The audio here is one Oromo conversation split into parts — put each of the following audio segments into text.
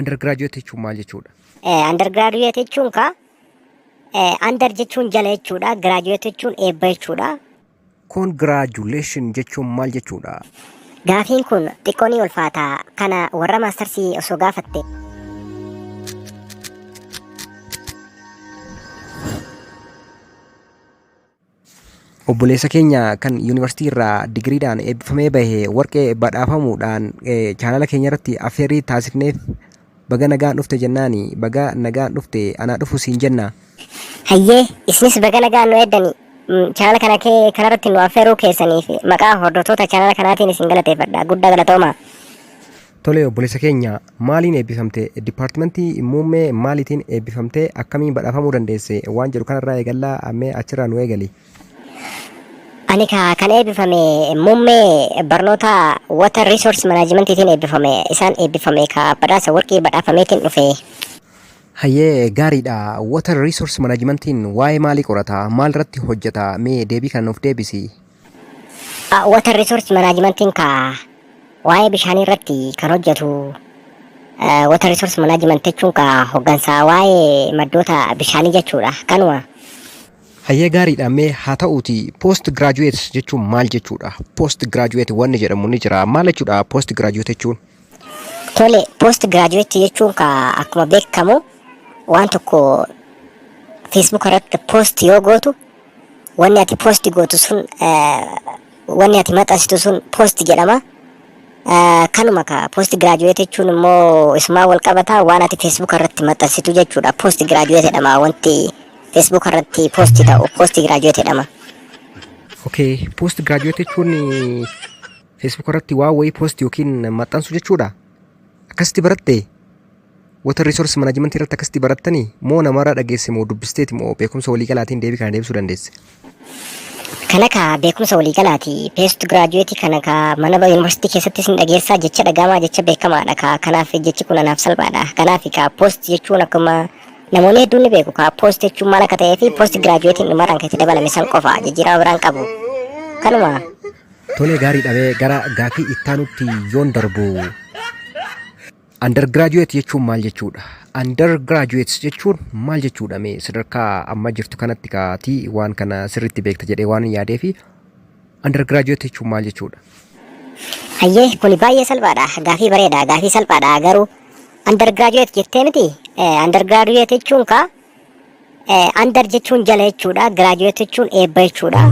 Undergraduate jechuun maal jechuudha? Undergraduate jechuun kaa under jechuun jala jechuudha. Graduate jechuun eebba jechuudha. Congratulation jechuun maal jechuudha? Gaafiin kun xiqqoo ni ulfaata. Kana warra maastarsii osoo gaafatte. Obboleessa keenya kan yuunivarsiitii irraa digiriidhaan eebbifamee bahe warqee badhaafamuudhaan chaanala keenya irratti affeerrii taasifneef baga nagaan dhufte jennaani baga nagaan dhufte anaa dhufu siin jenna. Hayyee isinis baga nagaan nu eeddani chaanala kana kee kanarratti nu affeeruu keessaniif maqaa hordoftoota chaanala kanaatiin isin galateeffadha guddaa galatoomaa. Tole obboleessa keenya maaliin eebbifamte dipaartimentii muummee maaliitiin eebbifamte akkamiin badhaafamuu dandeesse waan jedhu kanarraa eegallaa ammee achirraa nu eegali. Ani ka kan eebbifame muummee barnoota water resource manaajimentiitiin eebbifame isaan eebbifame ka badhaasa warqii badhaafameetiin dhufe. Hayyee gaariidha water resource manajimentiin waa'ee maalii qorata maal irratti hojjeta mee deebii kana nuuf deebisi. Water Resource Managementiin ka waa'ee bishaanii irratti kan hojjetu Water Resource Management jechuun ka hoggansa waa'ee maddoota bishaanii jechuudha. Kanuma. Hayyee gaariidha mee haa ta'uuti post graduate jechuun maal jechuudha? Post graduate wanni jedhamu ni jira. Maal jechuudha post graduate jechuun? Tole post graduate jechuun ka akkuma beekamu waan tokko Facebook irratti post yoo gootu Wanni ati post gootu sun wanni ati maxxansitu sun post jedhama. Kanuma ka post graduate jechuun immoo isumaa wal qabata waan ati Facebook irratti maxxansitu jechuudha. Post graduate jedhama wanti Facebook irratti post ta'u post graduate jedhama. Okay, post graduate jechuun Facebook irratti waa wayii post yookiin maxxansu jechuudha. Akkasitti baratte? Water Resource Management irratti akkasitti barattanii moo namarraa dhageesse moo dubbisteeti moo beekumsa waliigalaatiin deebii kana deebisuu dandeesse? Kana kaa beekumsa waliigalaati. Peest giraajuweetii kana kaa mana ba- yuunivarsiitii keessatti isin dhageessaa jecha dhagahamaa jecha beekamaadha kaa kanaaf jechi kun anaaf salphaadha. Kanaaf kaa poost jechuun akkuma namoonni hedduun ni beeku kaa poost jechuun maal akka ta'ee fi poost giraajuweetiin dhumarraan kan itti dabalame san qofa jijjiirama biraan qabu. Kanuma. Tolee gaarii dhabee gara gaafii ittaanutti yoon darbu. Undergraduate jechuun maal jechuudha? Undergraduates jechuun maal jechuudha? Mee sadarkaa amma jirtu kanatti kaatii waan kana sirriitti beekta jedhee waan hin yaadee fi undergraduate jechuun maal jechuudha? Hayyee kuni baay'ee salphaadha. Gaafii bareeda. Gaafii salphaadha garuu undergraduate jettee miti. Eh, Undergraduate jechuun kaa Eh, Under jechuun jala jechuudha. Graduate jechuun eebba jechuudha.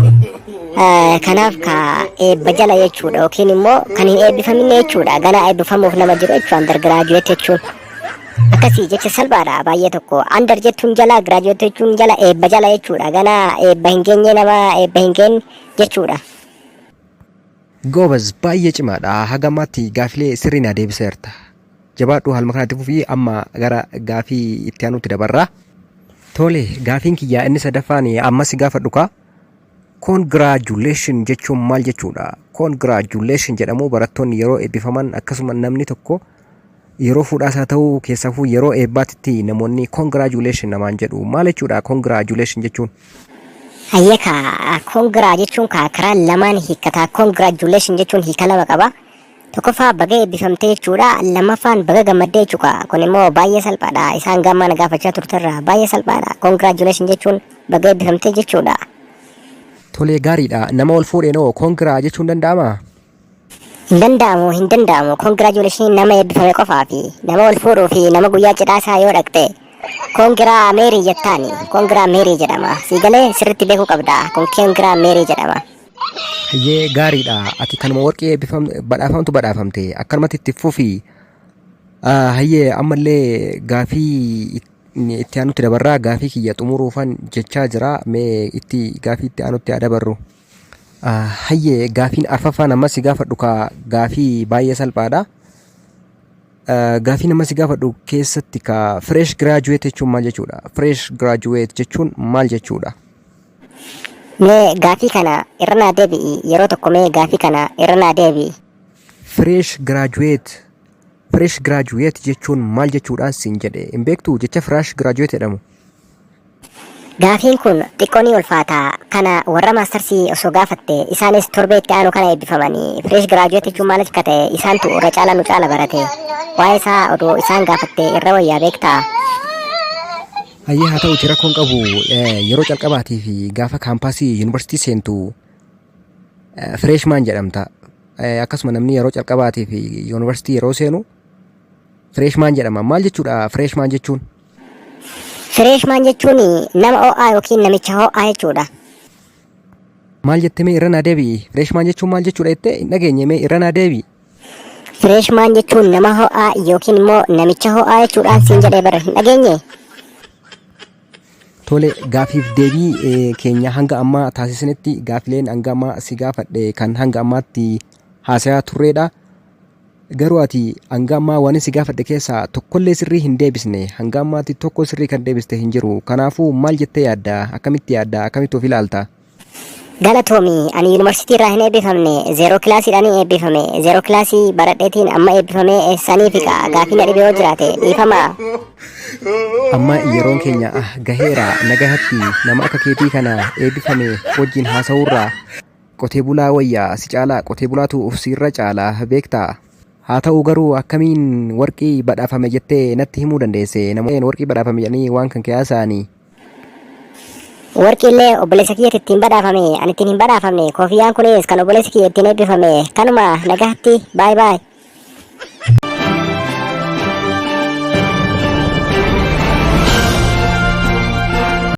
Eh, Kanaaf ka eebba jala jechuudha yookiin immoo kan hin eebbifaminne jechuudha. Ganaa eebbifamuuf nama jiru jechuudha. Under graduate jechuun. Akkasii jecha salphaadha baay'ee tokko. Under jechuun jala, graduate jechuun jala, eebba jala jechuudha. Ganaa eebba hin geenye nama eebba hin geenye jechuudha. Goobaz baay'ee cimaadha. Haga ammaatti gaafilee sirrii naa deebiseerta. Jabaadhu haaluma kanatti fufii amma gara gaafii itti aanutti dabarra. Tole gaafiin kiyyaa inni sadaffaan amma si gaafadhu kaa. Congratulation jechuun maal jechuudha? Congratulation jedhamu barattoonni yeroo eebbifaman akkasuma namni tokko yeroo fuudhaas haa ta'u keessafuu yeroo eebbaatitti namoonni congratulation namaan jedhu maal jechuudha congratulation jechuun? Hayyee kaa kongiraa jechuun kaa karaa lamaan hiikkataa congratulation jechuun hiika lama qaba. Tokkoffaa baga eebbifamte jechuudha. Lammaffaan baga gammadde jechuudha. Kun immoo baay'ee salphaadha. Isaan gaammaa na gaafachaa turterra baay'ee salphaadha. Congratulations jechuun baga eebbifamte jechuudha. Tolee gaariidha. Nama wal fuudheen hoo kongiraa jechuun danda'amaa? Hin danda'amu hin danda'amu. Congratulations nama eebbifame qofaa fi nama wal fuudhuu fi nama guyyaa cidhaa isaa yoo dhaqxe kongiraa meerii jettaani. Kongiraa meerii jedhama. Siigalee sirriitti beekuu qabda. Kun kongiraa meerii jedhama. Hayyee gaariidha. Ati kanuma warqii eebbifam- badhaafamtu badhaafamte. Akkanumatti itti fufi. Ah, Hayyee ammallee gaafii it- inni itti aanutti dabarraa gaafii kiyya xumuruufan jechaa jira. Mee itti gaafii itti aanutti haa dabarru. Ah, Hayyee gaafiin arfaffaan ammas si gaafadhu kaa gaafii baay'ee salphaadha. Ah, Gaafiin ammas si gaafadhu keessatti kaa fresh graduate jechuun maal jechuudha? Fresh graduate jechuun maal jechuudha? Mee gaafii kana irra naa deebi'i yeroo tokko mee gaafii kana irra naa deebi'i. Fresh graduate Fresh graduate jechuun maal jechuudhaan siin jedhe hin beektuu jecha fresh graduate jedhamu? Gaafiin kun xiqqoo ni ulfaata kana warra maastarsii osoo gaafatte isaanis torbee itti aanu kana eebbifamani fresh graduate jechuun maal akka ta'e isaantu irra caalaa nu caala barate waa'ee isaa odoo isaan gaafatte irra wayyaa beektaa? Hayyee haa ta'uti rakkoo hin qabu Eh, yeroo calqabaatii fi gaafa kaampaasii yuunivarsiitii seentu eh, fireeshmaan jedhamta. Eh, Akkasuma namni yeroo calqabaatii fi yuunivarsiitii yeroo seenu fireeshmaan jedhama. Maal jechuudha fireeshmaan jechuun? Fireeshmaan jechuun nama ho'aa yookiin namicha ho'aa jechuudha. Maal jettee mee irra naa deebi'i? Fireeshmaan jechuun maal jechuudha jettee hin dhageenye mee irra naa deebi'i? Fireeshmaan jechuun nama ho'aa yookiin immoo namicha ho'aa jechuudhaan siin jedhee bara hin dhageenye. Tole gaafiif deebii eh, keenya hanga ammaa taasisanitti gaafileen hanga ammaa si gaafadhe kan hanga ammaatti haasayaa turreedha. Garuu ati hanga ammaa waan si gaafadhe keessaa tokkollee sirrii hin deebisne hanga ammaatti tokko sirrii kan deebiste hin jiru. Kanaafuu maal jettee yaadda? Akkamitti yaadda? Akkamitti of ilaalta? Galatoomi ani yuunivarsiitii irraa hin eebbifamne zeeroo kilaasiidhaan eebbifame zeeroo kilaasii baradheetiin amma eebbifamee eessanii fiqa gaafii na dhibe yoo jiraate dhiifama. Amma yeroon keenya ah gaheera nagahatti nama akka keetii kana eebbifame wajjin haasa'uurraa qotee bulaa wayyaa si caalaa qotee bulaatu uf siirra caalaa beektaa. Haa ta'u garuu akkamiin warqii badhaafame jettee natti himuu dandeesse namoonni warqii badhaafame jedhanii waan kan kee haasa'anii. Warqiillee obboleessa kiyyatti ittiin badhaafame ani ittiin hin badhaafamne koofiyaan kunis kan obboleessi kiyya ittiin eebbifame kanuma nagaatti baay baay.